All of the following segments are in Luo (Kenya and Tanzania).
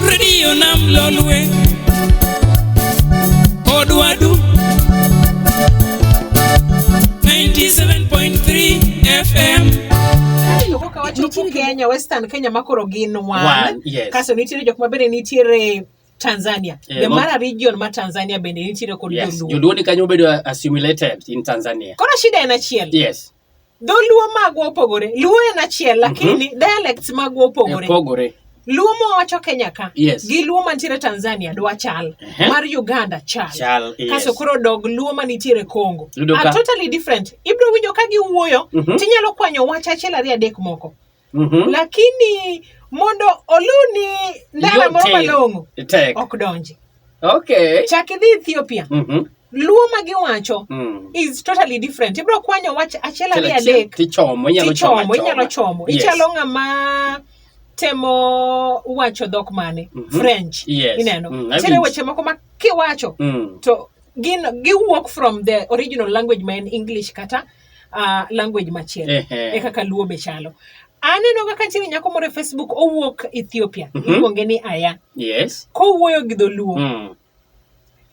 redio nam lolwe odwadu 97.3 fm Aneno kaka wacho Nitie po kendo- Kenya, Western Kenya ma koro gin one. One, yes. Kaso nitiere jok ma bende nitiere Tanzania. Eh, The ma- Mara region ma Tanzania bende nitiere kod yes joluo. joluo ni kanyo obedo assimilated in tanzania Koro shida en achiel. yes Dholuo magwa opogore. Luo en achiel lakini mm -hmm. dialects magwa opogore. Opogore. Luo mowacho Kenya ka yes. gi Luo mantiere Tanzania dwa chal uh -huh. mar Uganda chal, chal yes. kaso koro dog Luo manitiere Congo are totally different. Ibro winjo ka giwuoyo uh mhm. -huh. tinyalo kwanyo wach achiel ariyo adek moko mm -hmm. lakini mondo oluni ndara moro malong'o ok donji okay. chak idhi ethiopia mm -hmm. luo ma giwacho mm. is totally different ibro kwanyo wach achiel ariyo adek tichomo inyalo chomo inyalo chomo yes. ichalo ng'ama temo wacho dhok mane mm -hmm. french yes. ineno mm, nitiere mm, weche moko ma kiwacho mm. to gin giwuok from the original language ma en english kata mm. uh, language machielo e kaka luo be chalo aneno kaka nitiere nyako moro e facebook owuok ethiopia mm -hmm. iluonge ni aya yes kowuoyo gi dholuo mm.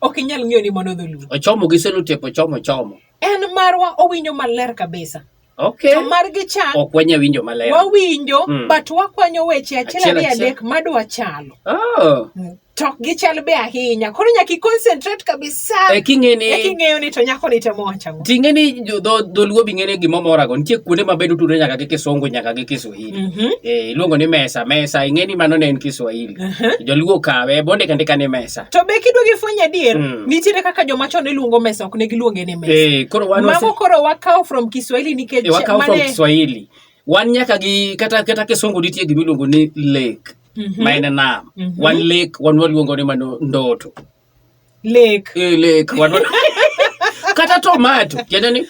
ok inyal ng'eyo ni mano dholuo ochomo gi selotep ochomo chomo en marwa owinjo maler kabisa Okay. To margi cha ok wanya winjo maler. Wawinjo mm. but wakwanyo weche achiel ariyo adek madwa chalo. Oh. Mm. to ok gichal be ahinya koro nyaka iconcentrate kabisa e king'eni e king'eyo ni to nyako ni temo wacho ang'o ting'e ni dholuo bi ng'ene gima morago nitie kuonde ma bedo tudore nyaka gi kisungu nyaka gi kiswahili mm -hmm. e, iluongo ni mesa mesa ing'e ni mano ne en kiswahili uh -huh. joluo kawe bonde kende ka ni mesa to be kidwa gi fwenyo adier mm. nitiere kaka joma chon iluongo mesa ok ne giluonge ni mesa e, koro wan mago koro wakawo from kiswahili nikech e, wakawo from kiswahili wan nyaka gi kata kata kisungu nitie gima iluongo ni lake mm -hmm. maende nam mm -hmm. wan lek wan waluongo ni mano ndoto lek e, lek wan kata tomato tiende ni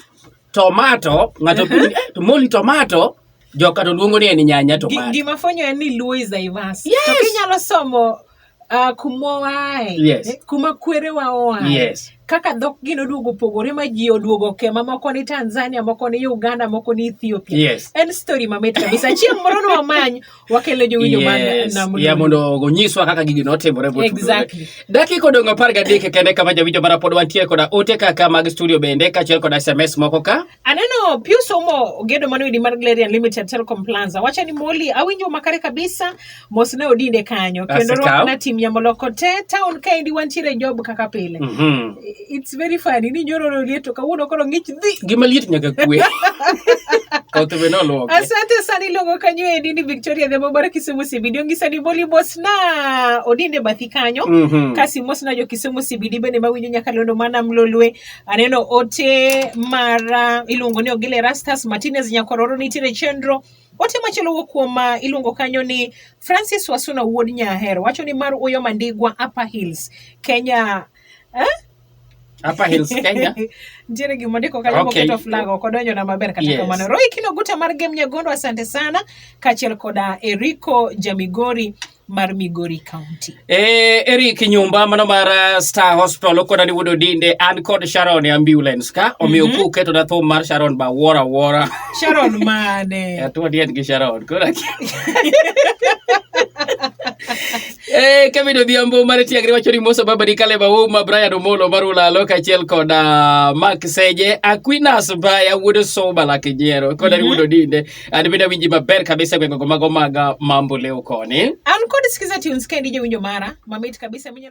tomato ng'ato uh -huh. eh, moli tomato joka to luongo ni en nyanya tomato gima fwenyo en ni luo is diverse yes. to kinyalo somo Uh, kuma wae yes. Eh, kuma kwerewa oae yes. kaka dhok gin oduogo opogore ma ji oduogo kema moko ni tanzania moko ni uganda moko ni ethiopia yes. en story mamit kabisa chieng' moro nwamany wakelo jowinjo yes. ya mondo onyiswa kaka gigi notimore exactly. dakika odong' apar gadek kende kama jawinjo mara pod wantiere koda ote kaka mag studio bende kaachiel koda sms moko ka aneno pius omo gedo manoidi mar glarian limited telecom planza wacho ni moli awinjo makare kabisa mos ne odinde kanyo kendo rwakna tim yamoloko te town kaendi wantiere job kaka pile mm -hmm. It's very funny ni nyoro rorie to kawuono koro ng'ich dhi. Gima liet nyaka kwe. Kaoto be noloke. Asante sana iluongo kanyo endi ni Victoria Dhembo mar Kisumu CBD ongisa ni boli mos na odinde bathi kanyo. Mm -hmm. Kasi mos na jo Kisumu CBD bende mawinjo nyaka londo mana mlolwe. Aneno ote mara iluongo ni Ogile Rastas Martinez Nyakororo nitiere chenro Ote machielo wuok kuom ma uh, iluongo kanyo ni Francis Wasuna wuod Nyahero wacho ni mar Uyo Mandigwa Upper Hills Kenya Eh? Hapa Hills Kenya. Nitiere gima ndiko kanyo okay. moketo flag ok odonjo na maber kata yes. kamano. Roy Kino Guta mar Game Nyagondo asante sana kaachiel koda Eriko Jamigori mar Migori County. Eh, Eric Nyumba mano mar uh, Star Hospital okona ni wudo dinde an kod Sharon e ambulance ka omiyo mm -hmm. kuketo na thum mar Sharon ba wora wora. Sharon mane? Atuo dien gi Sharon. Kora. Eh, Kevin Odhiambo mar Tiagre wacho ni Musa Baba Dikale Bauma, Brian Omolo mar Ulalo kaachiel kod uh, Mark Seje, Aquinas Baya wuod Soba Lakinyero kod mm -hmm. Wuod Odinde. An bende awinji maber kabisa e gwengego mago mag uh, Mambo leo koni. An kod Skiza Tunes kendi jowinjo mara mamit kabisa minyalo